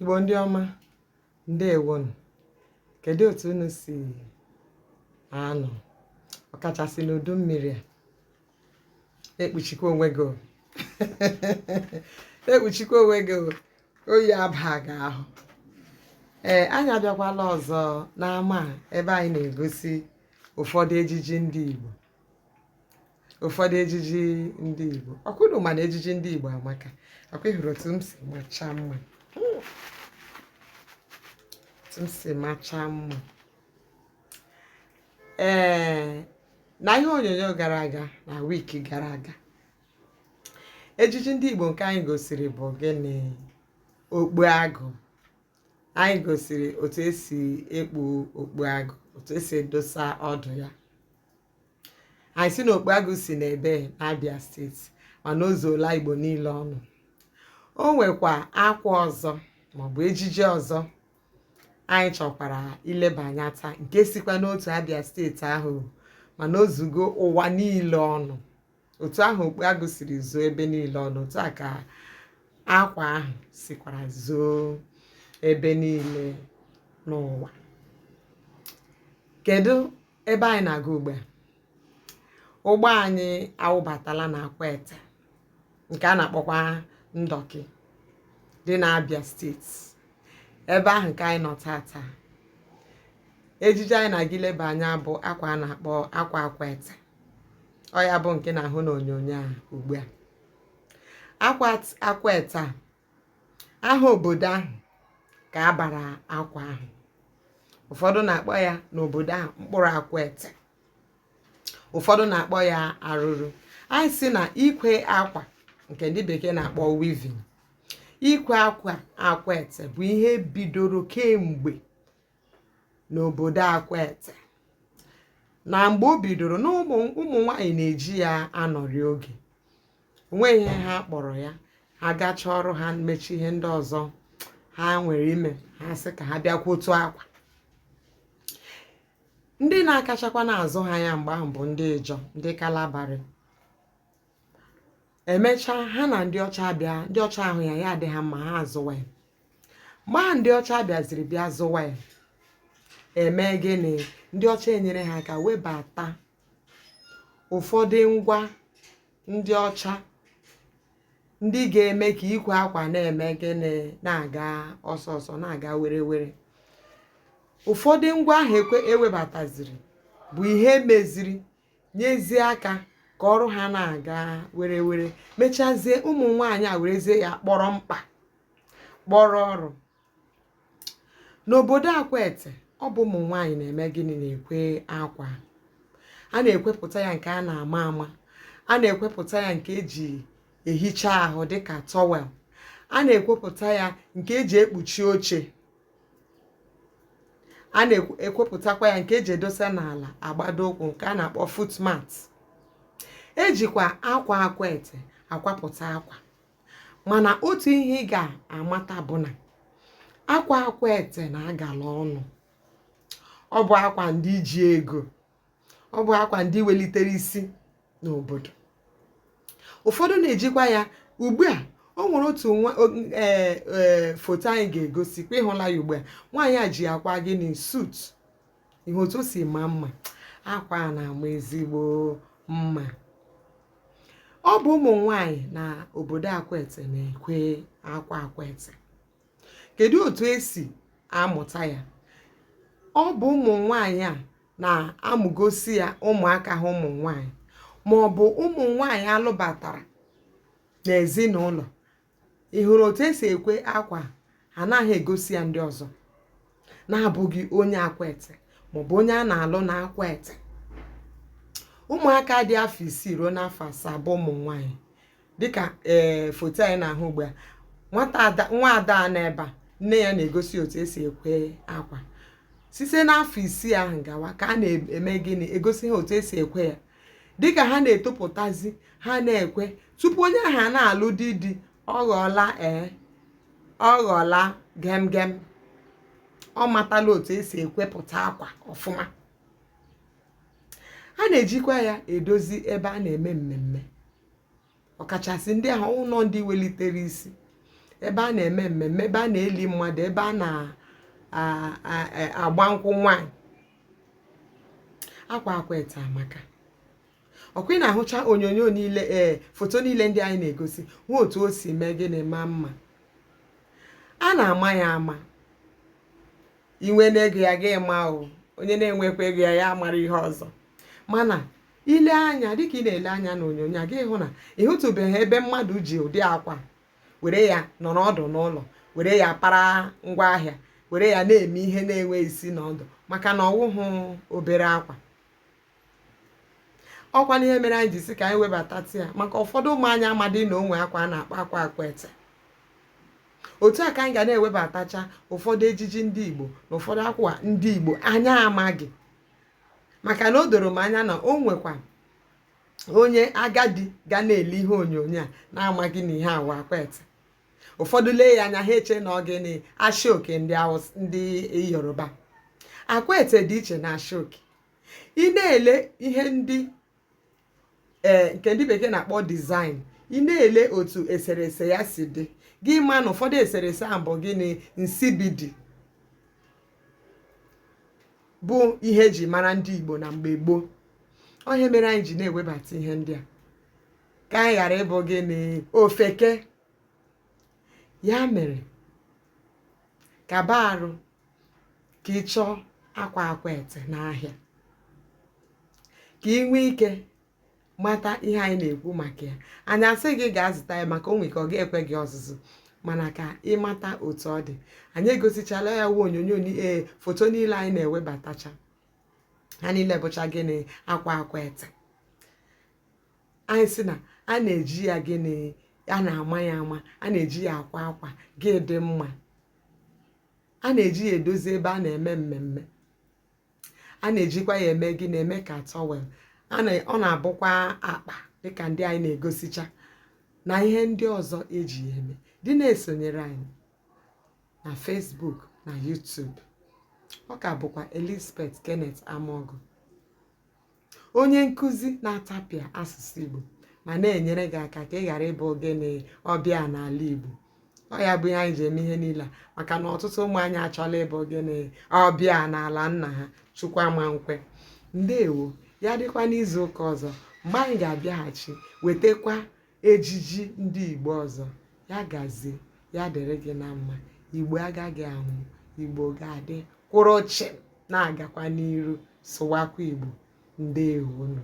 Igbo ndị ọma ndewonu kedu otu unu si anọ ọkachasị n'udu mmiri a ekpuchikwa onwe gị ekpuchikwa onwe gị oyi aba gị ahụ ee anyị abịakwala ọzọ n'ama ebe anyị na-egosi ụfọdụ ejiji ndị Igbo ụfọdụ ejiji ndị Igbo ọkụdụ mana ejiji ndị Igbo amaka ọkwa ịhụrụ otu m si macha mma otu m si macha mma ee na ihe onyonyo gara aga na wiki gara aga ejiji ndị Igbo nke anyị gosiri bụ gịnị okpu agụ anyị gosiri otu esi ekpu okpu agụ otu esi edosa ọdụ ya anyị sị na okpu agụ si n'ebe n'Abia steeti mana o zuola Igbo niile ọnụ o nwekwa akwa ọzọ maọbụ ejiji ọzọ anyị chọkwara ileba anya taa nke sikwa n'otu Abia steeti ahụ mana o zugo ụwa niile ọnụ otu ahụ okpu agụ siri zuo ebe niile ọnụ otu a ka akwa ahụ sikwara zuo ebe niile n'ụwa kedu ebe anyị na-aga ugbu a ụgbọ anyị awụbatala na Akwete nke a na-akpọkwa Ndọkị dị n'Abia steeti ebe ahụ ka anyị nọ tata ejiji anyị na-aga ileba anya bụ akwa a na-akpọ akwa Akwete ọ ya bụ nke na-ahụ n'onyonyo a ugbu a akwa Akwete a aha obodo ahụ ka a bara akwa ahụ ụfọdụ na-akpọ ya n'obodo ahụ mkpụrụ Akwete ụfọdụ na-akpọ ya arụrụ anyị sị na ikwe akwa nke ndị bekee na-akpọ weaving ikwe akwa Akwete bụ ihe bidoro kemgbe n'obodo Akwete na mgbe o bidoro na ụmụ nwanyị na-eji ya anọrị oge onweghị ihe ha kpọrọ ya ha gachaa ọrụ ha mechaa ihe ndị ọzọ ha nwere ime ha sị ka ha bịa kwee otu akwa ndị na-akachakwa na-azụ ha ya mgbe ahụ bụ ndị Ịjọ ndị Kalabarị emechaa ha na ndị ọcha bịa ndị ọcha ahụ ya ya adị ha mma ha azụwa ya mgbe ahụ ndị ọcha bịaziri bịa zụwa ya eme gịnị ndị ọcha enyere ha aka webata ụ̀fọdụ ngwa ndị ọcha ndị ga-eme kà ikwè akwà na-ème gịnị na-àga ọsọ ọsọ na-àga were were ụ̀fọdụ ngwa ahụ̀ ekwe ewebàtàzìrì bụ̀ ihe meziri nyezie akā kà ọrụ hā na-àga were were mechazie ụmụ̀ nwaànyị à wèrezie yā kpọrọ mkpà kpọrọ ọrụ̄ n'obodo Akwete ọ bụ ụmụ nwaanyị na-eme gịnị na-ekwe akwa a na-ekwepụta ya nke a na-ama ama a na-ekwepụta ya nke eji ehicha ahụ dịka towel a na-ekwepụta ya nke eji ekpuchi oche a na-ekwepụtakwa ya nke eji edosa n'ala agbado ụkwụ nke a na-akpọ footmat ejikwa akwa Akwete akwapụta akwa mana otu ihe ị ga-amata bụ na akwa Akwete na-agala ọnụ ọ bụ akwa ndị ji ego ọ bụ akwa ndị welitere isi n'obodo ụfọdụ na-ejikwa ya ugbu a o nwere otu nwa ee e, foto anyị ga-egosi kwa ịhụla ya ugbu a nwaanyị a ji ya kwaa gịnị suit ị hụ otu o si maa mma akwa a na-ama ezigbo mma ọ bụ ụmụ nwanyị na obodo akwete na-ekwe akwa akwete kedu otu esi amụta ya ọ bụ ụmụ nwanyị a na-amụgosi ya ụmụaka ha ụmụ nwanyị ma ọ bụ ụmụ nwanyị alụbatara n'ezinụlọ ị hụrụ otu esi ekwe akwa anaghị egosi ya ndị ọzọ na-abụghị onye akwete maọbụ onye a na-alụ na akwete ụmụaka dị afọ isii ruo n'afọ asaa bụ ụmụ nwaanyị dịka ee foto anyị na-ahụ ugbu a nwata ada nwa ada a n'ebe a nne ya na-egosi otu esi ekwe akwa site n'afọ isii ahụ gawa ka a na-eme gịnị egosi ha otu esi ekwe ya dịka ha na-etopụtazi ha na-ekwe tupu onye ahụ a na-alụ di di ọ ghọọla ee ọ ghọọla gem gem ọ matala otu esi ekwepụta akwa ọfụma a na-ejikwa ya edozi ebe a na-eme mmemme ọkachasị ndị ahụ ụlọ ndị welitere isi ebe a na-eme mmemme ebe a na-eli mmadụ ebe a na-agba nkwụ nwaanyị akwa Akwete amaka ọkwa ị na-ahụcha onyonyo niile ee foto niile ndị anyị na-egosi hụ otu o si mee gịnị maa mma a na-ama ya ama i nweena ego ya gị maa onye na-enweghịkwa ego ya ya mara ihe ọzọ mana i lee anya dịka ị na-ele anya n'onyonyo a gị hụ na ị hụtụbeghị ebe mmadụ ji ụdị akwa were ya nọrọ ọdụ n'ụlọ were ya para ngwa ahịa were ya na-eme ihe na-enwe isi na ọdụ maka na ọ wụhụ obere akwa ọ kwa na ihe mere anyị ji sị ka anyị webata ya maka ụfọdụ ụmụ anyị amadị na o nwe akwa a na-akpọ akwa Akwete otu a ka anyị ga na-ewebatacha ụfọdụ ejiji ndị igbo na ụfọdụ akwa ndị igbo anyị amaghị maka na o doro m anya na o nwekwa onye agadi ga na-ele ihe onyonyo a na-amaghị na ihe a wụ Akwete ụfọdụ lee ya anya ha eche na ọ gịnị ashoke ndị Haụs- ndị yoruba akwete dị iche na ashoke ị na-ele ihe ndị ee nke ndị bekee na-akpọ design ị na-ele otu eserese ya si dị gị ma na ụfọdụ eserese ahụ bụ gịnị nsibidi bụ ihe e ji mara ndị Igbo na mgbe gboo ọ ihe mere anyị ji na-ewebata ihe ndị a ka anyị ghara ịbụ gịnị ofeke ya mere kaba arụ ka ị chọọ akwa Akwete n'ahịa ka ị nwee ike mata ihe anyị na-ekwu maka ya anyị asị gị gaa zụta ya maka o nwe ike ọ ga-ekwe gị ọzụzụ mana ka ị mata otu ọ dị anyị egosichala ya wụ onyonyo ee foto niile anyị na-ewebatacha ha niile bụcha gịnị akwa Akwete anyị si na a na-eji ya gịnị a na-ama ya ama a na-eji ya akwa akwa gị dị mma a na-eji ya edozi ebe a na-eme mmemme a na-ejikwa ya eme gịnị eme ka towel ọ na-abụkwa akpa dịka ndị anyị na-egosicha na ihe ndị ọzọ e ji ya eme dị na-esonyere anyị na Facebook na YouTube ọ ka bụkwa Elizabeth Kenneth Amogu onye nkụzi na-atapịa asụsụ igbo ma na-enyere gị aka ka ị ghara ịbụ gịnị ọbịa n'ala igbo ọ ya bụ ihe anyị ji eme ihe niile a maka na ọtụtụ ụmụ anyị achọla ịbụ gịnị ọbịa n'ala nna ha chukwu ama nkwe ndewo ya dịkwa n'izu ụka ọzọ mgbe anyị ga-abịaghachi wetakwa ejiji ndị Igbo ọzọ ya gazie ya dịrị gị na mma Igbo agaghị anwụ Igbo ga-adị kwụrụ chịm na-agakwa n'iru sụwakwa Igbo ndeewonụ